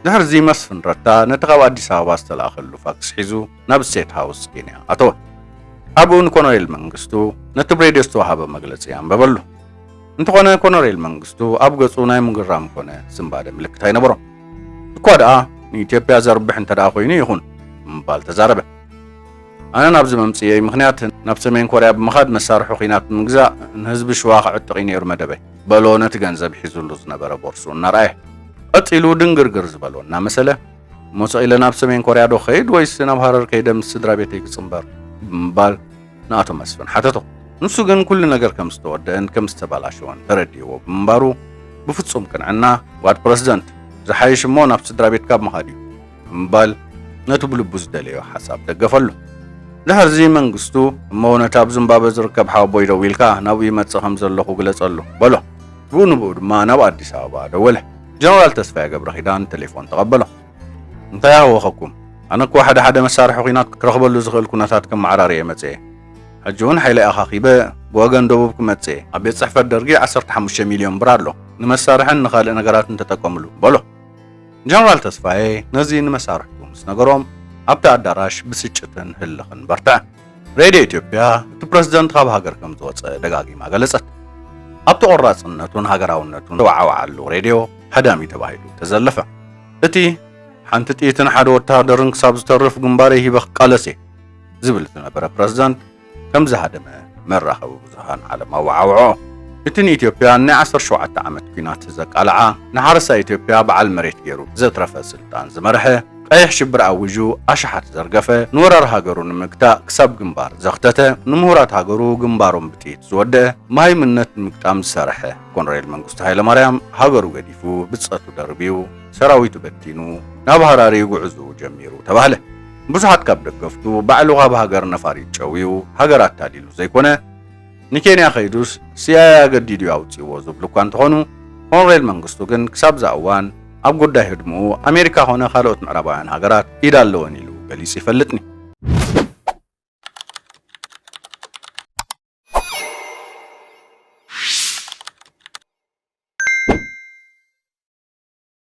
ድሕርዚ መስፍን ረታ ነቲ ካብ ኣዲስ ኣበባ ዝተላእኸሉ ፋክስ ሒዙ ናብ ስቴት ሃውስ ኬንያ ኣተወ። ኣብኡ ንኮነሬል መንግስቱ ነቲ ብሬድዮ ዝተዋሃበ መግለጺ ኣንበበሉ። እንተኾነ ኮነሬል መንግስቱ ኣብ ገጹ ናይ ምግራም ኮነ ስንባደ ምልክት ኣይነበሮን። እኳ ደኣ ንኢትዮጵያ ዘርብሕ እንተ ደኣ ኮይኑ ይኹን ብምባል ተዛረበ። ኣነ ናብዚ መምጽእየይ ምኽንያት ናብ ሰሜን ኮርያ ብምኻድ መሳርሒ ኲናት ንምግዛእ ንህዝቢ ሽዋ ክዕጥቕ እዩ ነይሩ መደበይ። በሎ ነቲ ገንዘብ ሒዙሉ ዝነበረ ቦርስኡ እናረኣየ። ቀጺሉ ድንግርግር ዝበሎ እናመሰለ፣ እሞ ሰቕ ኢለ ናብ ሰሜን ኮርያ ዶ ክኸይድ ወይስ ናብ ሃረር ከይደ ምስ ስድራ ቤተይ ክጽምበር? ብምባል ንኣቶ መስፍን ሓተቶ። ንሱ ግን ኩሉ ነገር ከም ዝተወደአን ከም ዝተባላሸወን ተረዲእዎ ብምንባሩ ብፍጹም ቅንዕና፣ ጓድ ፕረሲደንት፣ ዝሓይሽ እሞ ናብ ስድራ ቤትካ ምኻድ እዩ። ብምባል ነቲ ብልቡ ዝደለዮ ሓሳብ ደገፈሉ። ድሕርዚ መንግስቱ፣ እሞ ነቲ ኣብ ዝምባበ ዝርከብ ሓወቦይ ደዊልካ ናብኡ ይመጽእ ከም ዘለኹ ግለጸሉ፣ በሎ። ብኡ ንብኡ ድማ ናብ ኣዲስ ኣበባ ደወለ። ጀነራል ተስፋዬ ገብረኪዳን ተሌፎን ተቐበሎ። እንታይ ኣህወኸኩም? ኣነ እኮ ሓደ ሓደ መሳርሒ ኲናት ክረኽበሉ ዝኽእል ኩነታት ከመዓራሪ እየ መጽየ። ሕጂ እውን ሓይለይ ኣኻኺበ ብወገን ደቡብ ክመጽእ እየ። ኣብ ቤት ጽሕፈት ደርጊ ዓሰርተ ሓሙሽተ ሚልዮን ብር ኣሎ። ንመሳርሕን ንኻልእ ነገራትን ተጠቀምሉ፣ በሎ። ጀነራል ተስፋዬ ነዚ ንመሳርሕቱ ምስ ነገሮም ኣብቲ ኣዳራሽ ብስጭትን ህልኽን በርትዐ። ሬድዮ ኢትዮጵያ እቲ ፕረዚደንት ካብ ሃገር ከም ዝወጸ ደጋጊማ ገለጸት። ኣብቲ ቆራጽነቱን ሃገራውነቱን ዝተወዓወዓሉ ሬድዮ ሃዳሚ ተባሂሉ ተዘለፈ። እቲ ሓንቲ ጥይትን ሓደ ወተሃደርን ክሳብ ዝተርፍ ግንባረይ ሂበ ክቃለስ እየ ዝብል ዝነበረ ፕረዚደንት፣ ከም ዝሃደመ መራኸቢ ብዙሃን ዓለም ኣወዓውዖ። እቲ ንኢትዮጵያ ናይ ዓሰርተ ሸውዓተ ዓመት ኲናት ዘቃልዓ፣ ንሓረስታይ ኢትዮጵያ በዓል መሬት ገይሩ ዘትረፈ ስልጣን ዝመርሐ፣ ቀይሕ ሽብር ኣዊዡ ኣሽሓት ዘርገፈ፣ ንወራር ሃገሩ ንምግታእ ክሳብ ግንባር ዘኽተተ፣ ንምሁራት ሃገሩ ግንባሮም ብጥይት ዝወደኣ፣ መሃይምነት ንምግጣም ዝሰርሐ ኮነሬል መንግስቱ ሃይለማርያም ሃገሩ ገዲፉ፣ ብጸቱ ደርብዩ፣ ሰራዊቱ በቲኑ ናብ ሃራሪ ጉዕዝኡ ጀሚሩ ተባህለ። ብዙሓት ካብ ደገፍቱ ባዕሉ ካብ ሃገር ነፋሪት ጨውዩ ሃገር ኣታሊሉ ዘይኮነ ንኬንያ ከይዱስ ሲኣይኣይ ኣገዲዱ'ዩ ኣውጺእዎ ዝብሉ እኳ እንተኾኑ ኮንሬል መንግስቱ ግን ክሳብ'ዛ እዋን ኣብ ጉዳይ ህድምኡ ኣሜሪካ ኮነ ካልኦት ምዕራባውያን ሃገራት ኢድ ኣለወን ኢሉ ገሊጹ ይፈልጥኒ።